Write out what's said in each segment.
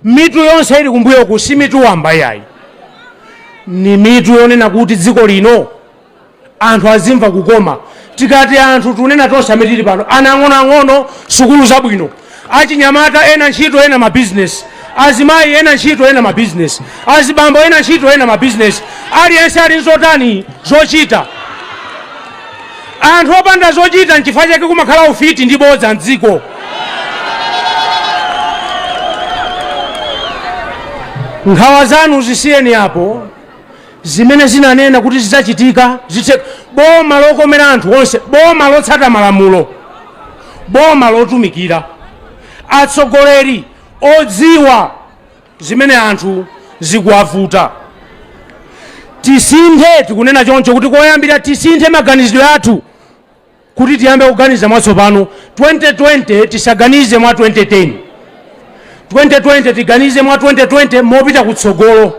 Mitu yonse ili kumbuyoku si mitu wamba yayi, ni mitu yonena kuti dziko lino anthu azimva kukoma. Tikati anthu tunena tonse amene tili pano, ana ang'onoang'ono, sukulu zabwino, achinyamata ena ntchito ena mabizinesi, azimayi ena ntchito ena mabizinesi, azibambo ena ntchito ena mabizinesi, aliyense ali nzotani zochita. Anthu opanda zochita nchifukwa chake kumakhala ufiti ndi bodza m'dziko. Nkhawa zanu zisiyeni apo, zimene tinanena kuti zidzachitika zitheka. Boma lokomera anthu onse, boma lotsata malamulo, boma lotumikira, atsogoleri odziwa zimene anthu zikuwavuta. Tisinthe, tikunena choncho kuti koyambira tisinthe maganizidwe athu kuti tiyambe kuganiza mwatsopano. 2020 tisaganize mwa 2010, 2020 tiganize mwa 2020 mopita kutsogolo.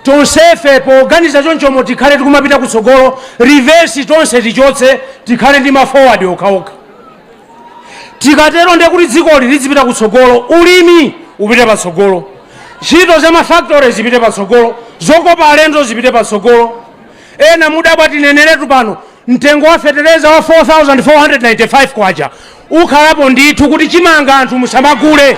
Tonsefe poganiza chonchomo tikhale tikumapita kutsogolo, reverse tonse tichotse, tikhale ndi ma forward okhaokha. tikatero ndiye kuti dzikoli lidzipita kutsogolo ulimi upite patsogolo ntchito za mafactory zipite patsogolo zokopa alendo zipite patsogolo ena mudabwa tineneretu pano mtengo wa fetereza wa 4495 kwacha ukhalapo ndithu kuti chimanga anthu musamagule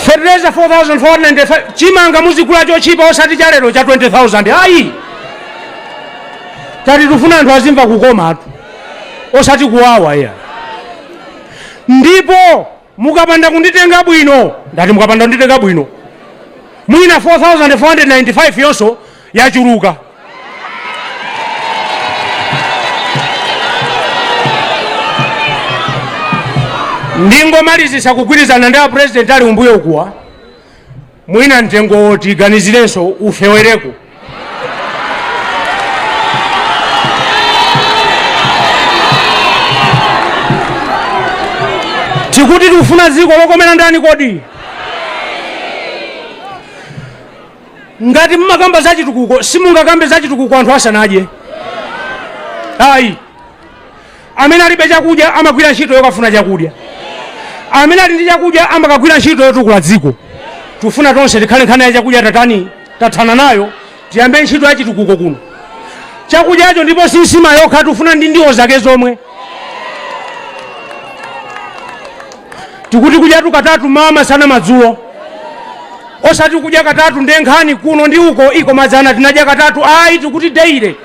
fetereza 4495 Chimanga muzigula chochipa osati cha lero cha 20,000 ayi. Tati tufuna anthu azimva kukomatu osati kuwawa iya. Ndipo mukapanda kunditenga bwino, ndati mukapanda kunditenga bwino, mwina 4,495 yonso yachuluka. Ndingomalizisa kugwirizana ndi a president ali kumbuyo kuwa. mwina mtengo tiganizirenso ufewereko tikuti tufuna dziko lokomera ndani kodi ngati mmakamba za chitukuko simungakambe za chitukuko anthu asanadye ayi Amene alibe chakudya amagwira ntchito yokafuna chakudya. Amene ali ndi chakudya amakagwira ntchito yotukula dziko. Tufuna tonse tikhale nkhani ya chakudya tatani tathana nayo tiyambe ntchito ya chitukuko kuno. Chakudyacho ndipo si nsima yokha tufuna ndi ndiwo zake zomwe. Tikuti kudya katatu mmawa masana madzulo. Osati kudya katatu nde nkhani kuno ndi uko iko madzana tinadya katatu ayi tikuti daily.